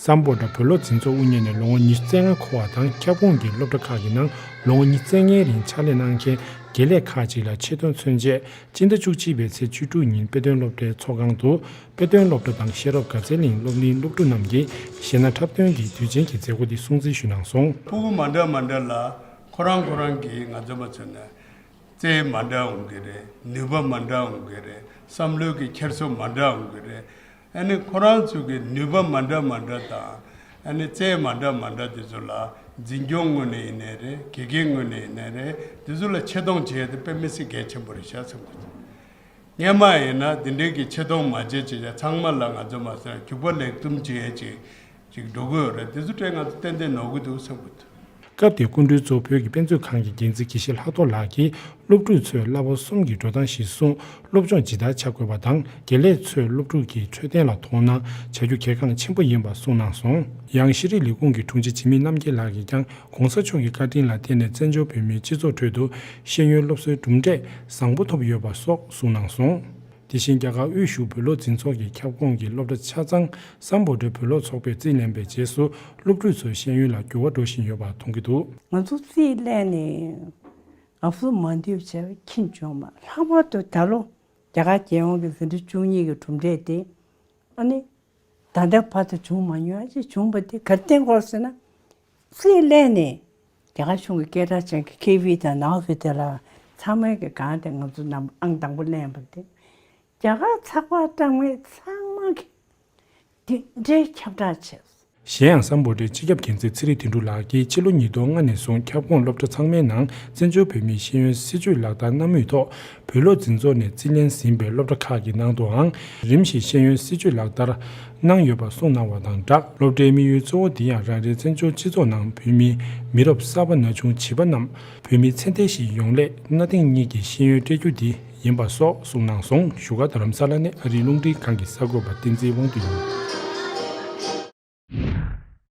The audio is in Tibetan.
བསམ་བོ་ཏྲ་བོད་སློབ་འཛིན་ཚོགས་དབུ་བརྙེས་ནས་ལོ་ངོ་ཉི་ཤུ་རྩེ་ལྔ་འཁོར་བ་དང་ཁྱབ་ཁོངས་ཀྱི་སློབ་གྲྭ་ཁག་གི་ནང་ལོ་ངོ་ཉིས་བརྩེགས་ལྔའི་རིང་ཕྱག་ལས་གནང་མཁན་དགེ་ལས་ཁག་ཅིག་ལ་ཆེད་དོན་མཚོན་བཅད་སྤྱི་ཟླ་བཅུ་གཅིག་པའི་ཚེས་བཅུ་དྲུག་ཉིན་དཔེ་སྟོན་སློབ་གྲྭའི་ཚོགས་ཁང་དུ་དཔེ་སྟོན་སློབ་གྲྭ་དང་ཤེས་རབ་དགའ་ཚལ་གླིང་སློབ་གླིང་སློབ་ཕྲུག་རྣམས་ཀྱིས་གཞས་སྣ་འཁྲབ་སྟོན་གྱིས་དུས་ཆེན་གྱི་མཛད་སྒོ་འདི་སྲུང་བརྩི་ཞུས་གནང་སོང། ཕུ་བོ་མ་འདྲ་མ་འདྲ་ལ་ཁོ་རང་ཁོ་རང་གིས་ང་རྩོམ་པ་ཚོས་ནས་རྩལ་མ་འདྲ་འོང་གི་རེད་ནུས་པ་མ་འདྲ་འོང་གི་རེད་བསམ་བློའི་གི་འཁྱེར་སོ་མ་འདྲ་འོང་གི་རེད་ཨ་ནི་ཁོ་རང་ཚོའི་གི་ནུས་པ་མ་འདྲ་མ་འདྲ་དང་ཨ་ནི་རྩལ་མ་འདྲ་མ་འདྲ་དེ་ཚོ་ལ་འཛིན་སྐྱོང་དངོས་ནས་ཡིན་ནའི་རེད་དགེ་རྒན་དངོས་ནས་ཡིན་ནའི་རེད་དེ་ཚོ་ལ་ཆེ་མཐོང་བྱེད་ཡ་དེ་དཔེ་མི་སྲིད་གལ་ཆེན་པོ་རེད་བྱ་ཚང་གི་ཚོ། རྙེད་མ་ཡིན་ན་འདི་འདྲིའི་གི་ཆེ་མཐོང་མ་བྱེད་ཅིག་ཡ་ཚང་མ་ལ་ང་ཚོས་མ་སོན་གུག་པ་ལེགས་བཙུམ་བྱེད་ཡས་ཅིག་ཅིག་འགྲོ་གི་ཡོད་རེད་འདི་ཚོ་དྲན་ང་ཚོ་ཏན་ཏན་ནོར་གི་འདུག་བསམ་གི་འདུག། སྐབས་དེའི་སྐུ་མགྲོན་གཙོ་བོད་ཀྱི་དཔེ་མཛོད་ཁང་གི་འགན་འཛིན་དགེ་བཤེས་ལྷག་རྡོར་ལགས་ཀྱིས་སློབ་ཕྲུག་ཚོས་གླ་པོ་གསུམ་གྱི་འགྲོ་སྟངས་གཞིར་བཟུང་སློབ་སྦྱོང་ཇི་ལྟར་བྱ་དགོས་པ་དང་དགེ་ལས་ཚོས་སློབ་ཕྲུག་གི་འཕྲོད་བསྟེན་ལ་མཐོང་སྣང་བྱ་རྒྱུ་གལ་འགངས་ཆེན་པོ་ཡིན་པ་གསུངས་གནང་སོང། ཡང་ཤེས་རིག་ལས་ཁུངས་ཀྱི་དྲུང་ཆེ་འཇིགས་མེད་རྣམ་རྒྱལ་ལགས་ཀྱིས་ཀྱང ྋགོང་ས་མཆོག་གི་བཀའ་དྲིན་ལ་བརྟེན་ནས་བཙན་བྱོལ་བོད་མིའི་སྤྱི་ཚོགས་ཁྲོད་དུ་ཤེས་ཡོན་སློབ་གསོའི་གྲུབ་འབྲས་བཟང་པོ་ཐོབ་ཡོད་པ་སོགས་གསུངས་གནང་སོང། དེ་བཞིན་རྒྱ་གར་དབུས་བཞུགས་བོད་བློ་འཛིན་ཚོགས་ཀྱི་ཁྱབ་ཁོངས་ཀྱི་སློབ་གྲྭ་ཆ་ཚང་སམ་བོད་འབྲེལ་བོད་བློ་ཚོགས་པས་རྩིས་ལེན་པའི་རྗེས་སུ་སློབ་ཕྲུག་ཚོའི་ཤེས་ཡོན་ལ་འགྱུར་བ་འགྲོ་བཞིན་ཡོད་པ་མཐོང་གི་འདུག། ང་ཚོ་རྩིས་ལེན་ནས་ང་ཚོ་མ་འདུས་ཕྱིར་ཁྱིམ་བྱུང་མ། ལྷག་པར་དུ་ད་ལོ་རྒྱ་གར་རྒྱལ་ཡོངས་ཀྱི་ཟིན་བྲིས་བཅུ་གཉིས་ཀྱི་གྲུབ་འབྲས་དེ་ཨ་ནི་ད་ལྟའི་བར་དུ་བྱུང་མ་མྱོང་ཡང་ཅིག་བྱུང་བ་དེ་གར་བསྟན་སྐོར་ཟེར་ན། རྩིས་གླེང་ནི། རྒྱ་གར་གཞུང་གི་སྐད་གྲགས་ཅན་གྱི་ཁེ་བྷི་དང་ནའོ་བྷི་དེ་ལ་ཚང་མལ་གྱི་སྒང་དེ་ང་ཚོ་ནམ་ཨང་དང་པོ་གླེང་བ་སྟེ། རྒྱ་གར་ཚགས་པར་གྲངས་མེད་ཚང་མ་གིས་དེ་འདྲའི་ཁྱབ་བསྒྲགས་བྱས། གཞན་ཡང་སམ་བོ་ཏའི་སྤྱི་ཁྱབ་མཁྱེན་བརྩེ་ཚེ་རིང་དོན་གྲུབ་ལགས་ཀྱིས་ཕྱི་ལོ་ཉིས་སྟོང་ལྔ་ནས་བཟུང་ཁྱབ་ཁོངས་སློབ་གྲྭ་ཚང་མའི་ནང་བཙན་བྱོལ་བོད་མིའི་ཤེས་ཡོན་སྲིད་བྱུས་ལག་བསྟར་གནང་མུས་ཐོག་བོད་སློབ་འཛིན་ཚོགས་ནས་རྩིས་ལེན་ཟིན་པའི་སློབ་གྲྭ་ཁག་གི་ནང་དུའང་རིམ་བཞིན་ཤེས་ཡོན་སྲིད་བྱུས་ལག་བསྟར་གནང་ཡོད་པ་གསུངས་གནང་བ་དང་སྦྲགས་སློབ་གྲྭའི་དམིགས་ཡུལ་གཙོ་བོ་འདི་ཡང་རང་རེའི་བཙན་བྱོལ་སྤྱི་ཚོགས་ནང་བོད་མིའི་མི་རབས་གསར་པ་ན་ཆུང་བྱིས་པ་རྣམས་བོད་མི་ཚད་ལྡན་ཞིག་ཡོང་སླད་གནའ་དེང་གཉིས་ཀྱི་ཤེས་ཡོན་སྤྲད་རྒྱུ་དེ་ཡིན་པ་སོགས་གསུངས་གནང་སོང་བཞུགས་སྒར་རྡ་རམ་ས་ལ་ནས་ཨ་རིའི་རླུང་འཕྲིན་ཁང་གི་གསར་འགོད་པ་བསྟན་འཛིན་དབང་འདུས་ལགས།